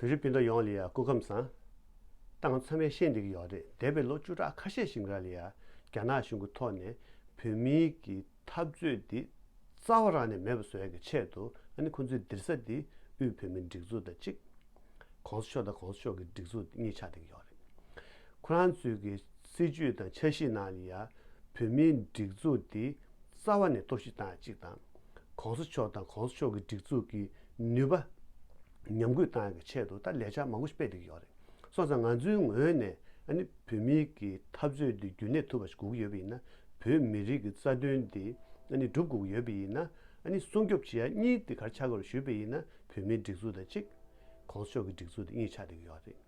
བོད་རིགས་སྤུན་ཟླ་ཡོངས་ལ་ཡང་སྐུ་ཁམས་བཟང། སྟངས་འཚམ་བའི་ཤེས་འདི་གི་ཡོག་རེད་འདས་པའི་ལོ་བཅུ་ཕྲག་ཁ་ཤས་ཤིག་འགའ་ལ་ཡང་རྒྱ་ནག་གཞུང་གི་ཐོག་ནས་བོད་མིའི་གི་འཐབ་རྩོད་འདི་རྩ་བ་རང་ནས་མེད་པ་བཟོ་ཡག་གི་ཆེད་དུ་ཨ་ནི་ཁོང་ཚོའི་འདིར་ས་འདི་དབུས་བོད་མིའི་སྒྲིག་འཛུགས་དང་གཅིག་གོང་ས་མཆོག་དང་གོང་ས་མཆོག་གི་སྒྲིག་འཛུགས་འདི་གཉིས་ཆགས་འདི་གི་ཡོག་རེད། ཁོ་རང་ཚོའི་གི་སྲིད་ཇུས་དང་འཆར་གཞི་ནང་ལ་ཡང་བོད་མིའི་སྒྲིག་འཛུགས་འདི་རྩ་བ་ནས་གཏོར་བཤིག་བཏང་ཡག་གཅིག་དང། ྋགོང་ས་མཆོག་དང ྋགོང་ས་མཆོག་གི་སྒྲིག་འཛུགས་ཀྱི་ནུས་པ་ཉམས་གུད་བཏང་ཡོད་པའི་ཆེད་དུ་ད་ལས་འཆར་མང་པོ་ཞིག་སྤེལ་འདོད་ཀྱི་ཡོད་རེད། སོང་ཙང་ང་ཚོའི་ངོས་ནས་ནི་བོད་མི་གི་འཐབ་རྩོད་འདི་རྒྱུན་གནས་ཐུབ་པ་ཞིག་དགོས་ཀྱི་ཡོད་པ་ཡིན་ན། བོད་མི་རིགས་ཀྱི་རྩ་དོན་འདི་ནི་སྒྲུབ་དགོས་ཀྱི་ཡོད་པ་ཡིན་ན། སྲུང་སྐྱོབ་བྱེད་ཡ་གཉིས་འདི་གར་ཆགས་དགོས་རེད་ཞུས་པ་ཡིན་ན་བོད་མིའི་སྒྲིག་འཛུགས་དང་གཅིག། ྋགོང་ས་མཆོག་གི་སྒྲིག་འཛུགས་འདི་གཉིས་ཆགས་འདོད་ཀྱི་ཡོད་རེད།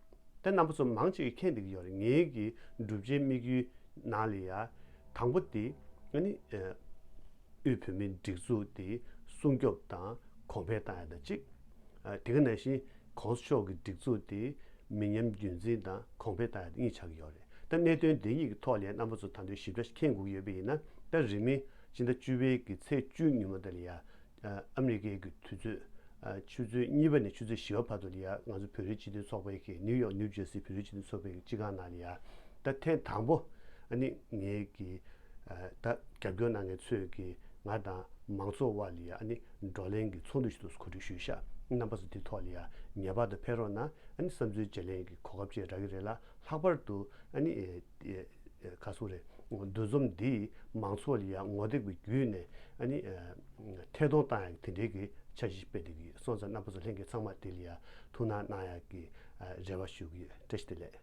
དེ་རྣམ་པ་ཚོ་མང་ཅིག་གིས་མཁྱེན་འདོད་ཀྱི་ཡོད་རེད་ངེད་ཀྱི་བསྒྲུབ་བྱའི་དམིགས་ཡུལ་ནང་ལ་ཡ། དང་པོ་དེ་ནི། དབུས་བོད་མིའི་སྒྲིག་འཛུགས་དེ་སྲུང་སྐྱོབ་དང་གོང་འཕེལ་བཏང་ཡོད་པ་གཅིག། དེ་ག་ནང་བཞིན ྋགོང་ས་མཆོག་གི་སྒྲིག་འཛུགས་དེ་མི་ཉམས་རྒྱུན་འཛིན་དང་གོང་འཕེལ་བཏང་ཡོད་པ་གཉིས་ཆགས་ཀྱི་ཡོད་རེད། ད་གནད་དོན་དེ་གཉིས་ཀྱི་ཐོག་ལས་རྣམ་པ་ཚོ་དང་དོད་ཞིབ་ཕྲ་ཁེངས་དགོས་ཀྱི་ཡོད་པ་ཡིན་ན་ད་རིང་མིན་སྤྱི་ཟླ་བཅུ་བའི་གི་ཚེས་བཅུ་ཉིན་མ་དང་ལ་ཡ་ཨ་མི་རི་ཀའི་གི་དུས་ཚོད་ཆུ་ཚོད་གཉིས་པ་ནས་ཆུ་ཚོད་བཞི་བ་བར་དུ་ལ་ཡ་ང་ཚོ་བོད་རིགས་སྤྱི་མཐུན་ཚོགས་པའི་གི་ནིའུ་ཡོག་ནིའུ་ཇེར་སི་བོད་རིགས་སྤྱི་མཐུན་ཚོགས་པའི་གི་སྤྱི་ཁང་ནང་ལ་ཡ་ད་ཐེངས་དང་པོ་ནི་ངའི་གི་ད་རྒྱབ་སྐྱོར་གནང་མཁན་ཚོས་ཀྱིས་ང་དང་མང་ཚོགས་དབར་ལ་ཡང་བགྲོ་གླེང་གི་ཚོགས་འདུ་ཞིག་ཏུ་གོ་སྒྲིག་ཞུས་ཤག་རྣམ་པ་ཚོ་དེ་ཐོག་ལ་ཡང་ངེས་པར་དུ་ཕེབས་རོགས་གནང་བསམ་ཚུལ་བརྗེ་ལེན་གྱི་གོ་སྐབས་བཅས་རག་གི་རེད་ལ་ལྷག་པར་དུ་ཁ་སོང་རེད་འདུ་འཛོམས་འདིས་མང་ཚོགས་ལ་ཡང་ངོ་དེབ་ཀྱི་བརྒྱུད་ནས་ཐད་གཏོང་གཏང་ཡག་དེ་འབྲེལ་གྱི་འཆར་གཞི་སྤེལ་འདོད་ཀྱི་སོང་ཙང་རྣམ་པ་ཚོ་ལྷན་རྒྱས་ཚང་མ་དེ་ལ་ཡང་ཐུགས་སྣང་གནང་ཡག་གི་རེ་བ་ཞུ་གི་བཀྲ་ཤིས་བདེ་ལེགས།